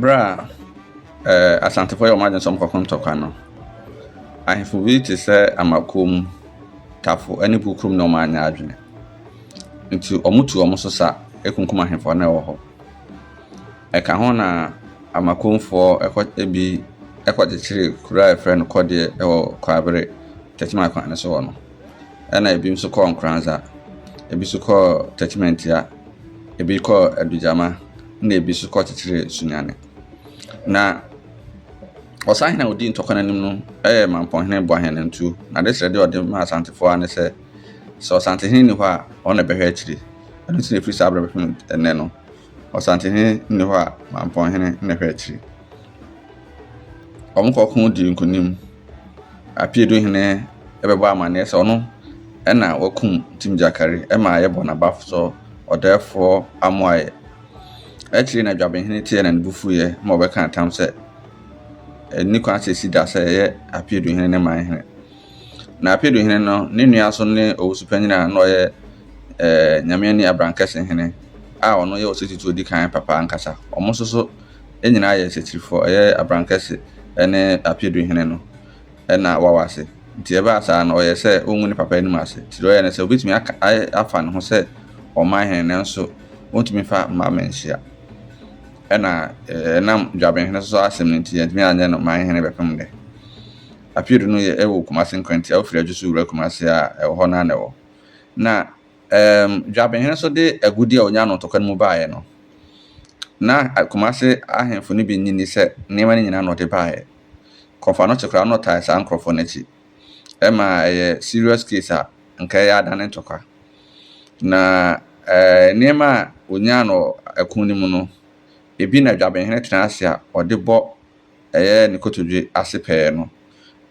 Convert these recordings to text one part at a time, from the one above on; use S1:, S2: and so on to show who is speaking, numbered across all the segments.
S1: Bere a Asantefo yɛɛ wɔn adwene sɛ wɔkɔko ntɔkwa no, ahemfo bi te sɛ Amakom, Tafo ne Bukom na wɔanyɛ adwene. Nti wɔtu wɔn so sa kunkum ahemfo a na wɔwɔ hɔ. Ɛka ho na Amakomfoɔ kɔ bi kɔkyekyeree kuro a wɔfrɛ no Kɔdeɛ wɔ Kwaabere, Techiman kwan no so hɔ no. ɛna ebi nso kɔɔ Nkoranza, ebi nso kɔɔ Tɛkyimɛntia, ebi kɔɔ Adugyama, ɛna ebi nso kɔɔ Kyekyere Sunyani. Na ɔsahene a ɔdii ntɔkwa no anim no yɛ Mampɔnhene Boahene Ntuo. Na adekyerɛdeɛ a ɔde maa Asantefoɔ ara ne sɛ, sɛ Ɔsantehene nni hɔ a, ɔno na ɛbɛhwɛ akyire. Ɛno nti na ɛfiri saa berɛ bɛpem ɛnnɛ no, Ɔsantehene nni hɔ a Mampɔnhene na ɛhwɛ akyiri. Wɔkɔko dii nkonim. Apeaduhene bɛbɔ amanneɛ sɛ ɔno na wakum Tim Gyakare ma yɛbɔ no abafo Ɔdɛɛfoɔ Amoayɛ. Akyire na Dwabenhene teɛɛ na ne bo fuiɛ ma ɔbɛkaa ntam sɛ ɛnni kwan sɛ ɛsi da sɛ ɛyɛ Apeaduhene ne Manhene. Na Apedu Hene no, ne nua nso ne Owusu Panyin a na ɔyɛ eh, Nyamiani Abrankɛse Hene a ɔno yɛ ɔseti to odi kan papa ankasa. Wɔn nso so nyinaa yɛ setifoɔ, ɛyɛ Abrankɛse ne Apedu Hene no na wawa ase. Nti ɛbaa saa no, ɔyɛ sɛ ɔngu ne papa anim ase. Nti deɛ ɔyɛ ne sɛ, obetumi aka, ayɛ, afa ne ho sɛ ɔman hene nanso ɔntumi fa mma manhyia. Ɛna eh, ɛnam Dwabenhene so asɛm no nti, yɛntumi anyɛ no man hene bɛpem nnɛ. Appeal do no yɛ ɛwɔ Kumase Nkrante a ofiri Adwo so wura Kumase a ɛwɔ hɔ no ara na ɛwɔ. Na ɛɛm Dwabenhene so de agudi a onyaa no ntɔkwa no mu baeɛ no, na Kumase ahemfo no bi nnye nni sɛ nneɛma no nyinaa na ɔde baeɛ. Kɔmfoanokye koraa na ɔtae saa nkorɔfoɔ no akyi. Ɛma ɛyɛ serious case a nka ɛyɛ adane ntɔkwa. Na ɛɛ nneɛma a onyaa no wɔ ɛko no mu no, ebi na Dwabenhene tena ase a ɔde bɔ Ɛyɛ ne kotodwe ase pɛɛ no.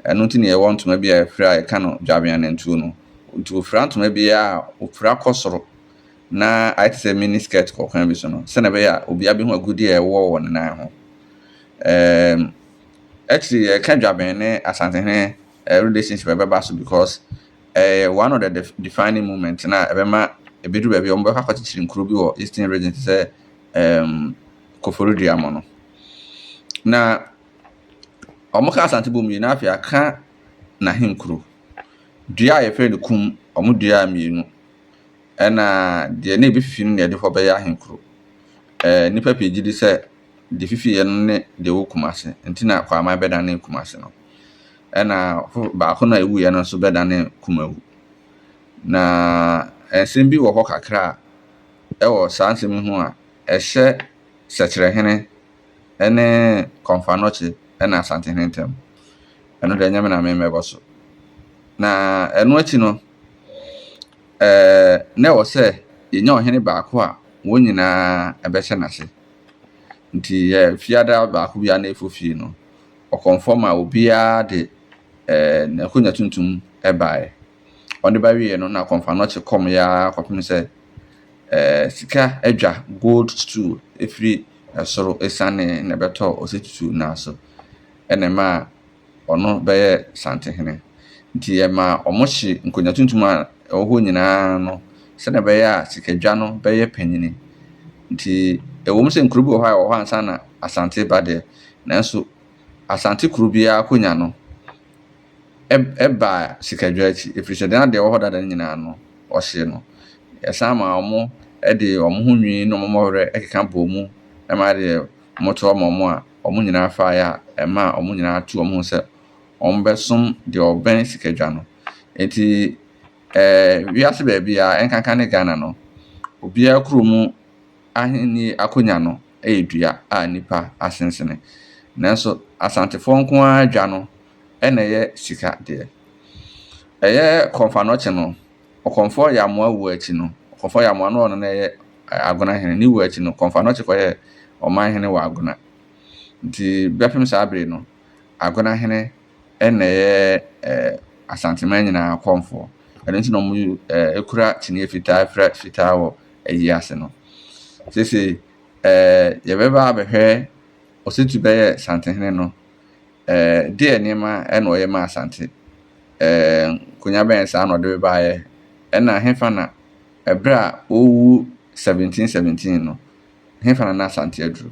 S1: Ɛno nti na yɛwɔ ntoma bi a yɛfrɛ a yɛka no dwabeanantuo no. Nti wɔfira ntoma bi a wɔfira kɔ soro na ayɛ te sɛ mini skirt kɔ kwan bi so no sɛdeɛ ɛbɛyɛ a obiara bɛhu agudeɛ a ɛwɔ wɔ ne nan ho. Um, actually yɛka dwaben ne Asantehene uh, relationship ɛbɛba so because ɛyɛ uh, one of the def defining moment na ɛbɛma ɛbɛduru baabi a wɔbɛkɔ akɔkyekyere nkuro bi wɔ eastern region te sɛ um, Koforidua mo no. Na wɔka Asante bom wie no, na afei wɔaka n'ahenkuro. Dua a wɔfrɛ no Kum, wɔduaa mmienu, ɛnna deɛ na ɛbɛfifie no na wɔde rekɔ akɔyɛ ahenkuro. Ɛɛ nnipa pii gye di sɛ deɛ ɛfifiiɛ no ne deɛ ɛwɔ Kumase, ɛnti na Kwaaman bɛdanee Kumase no, ɛnna fo baako no a ɛwuiɛ no nso bɛdanee Kumawu. Na nsɛm bi wɔ hɔ kakra a ɛwɔ saa nsɛm yi ho a ɛhyɛ . Sɛkyerɛhene ne Kɔmfannɔkye na Asantehene ntam. Ɛno deɛ ɛnyɛ me na me mɛbɔ so. Na ɛno akyi no, ɛɛ na ɛwɔ sɛ yɛnya ɔhene baako a wɔn nyinaa bɛhyɛ n'ase. Nti ɛɛ fiada baako bi a na ɛfo fie no, ɔkɔmfɔ ma obiara de ɛɛ n'akonnwa tuntum baeɛ. Ɔde ba wieeɛ no na Kɔmfɔanɔkye kɔmeeɛ ara kɔpem sɛ ɛɛ sika adwa, gold stool, ɛfiri soro asianee na ɛbɛtɔɔ Ɔsatutu nan so na ɛmaa ɔno bɛyɛɛ Santehene. Nti ɛmaa wɔhye nkonwa tuntum a ɛwɔ hɔ nyinaa no sɛdeɛ ɛbɛyɛ a sikadwa no bɛyɛ panyini. Nti ɛwom sɛ nkuro bi wɔ hɔ a ɛwɔ hɔ ansa na Asante reba deɛ nanso Asante kuro biara akonya no, baa sikadwaa akyi, ɛfiri sɛ na deɛ ɛwɔ hɔ dada no nyinaa no, wɔhyee no. Yɛsan maa wɔde wɔn ho nwi ne wɔn mmɔwerɛ keka bɔɔ mu ma deɛ wɔtoa maa wɔn a, wɔn nyinaa faeɛ a, ɛmaa wɔn nyinaa tuu wɔn ho sɛ wɔbɛsom deɛ ɔbɛn sikadwa no. Enti, ɛɛ wiase baabiara, ɛnkanka ne Ghana no, obiara kurom ahennie akonnwa no, yɛ dua a nnipa asensene. Nanso Asantefoɔ nko ara dwa no na ɛyɛ sika deɛ. Ɛyɛ Kɔmfanoɔkye no, Ɔkɔmfoɔ Yamoa wuo akyi no, Ɔkɔmfoɔ Yamoa no ɔno na ɛyɛ Agona hene, ne wuo akyi no, Kɔmfanoɔkye kɔyɛɛ ɔman hene wɔ Agona. Nti bɛpem saa bere no, Agona hene na ɛyɛ Asanteman nyinaa kɔmfoɔ. Ɛno nti na wɔkura kyiniiɛ fitaa frɛ fitaa wɔ ayi ase no. Seesei yɛbɛba abɛhwɛ Ɔsatu bɛyɛ Santehene no, deɛ nneɛma na ɔyɛ maa Asante? Nkonnwa bɛn saa na ɔde baeɛ? Ɛna hefa na ɛberɛ a ɔrewu 1717 no, hefa na na Asante aduru?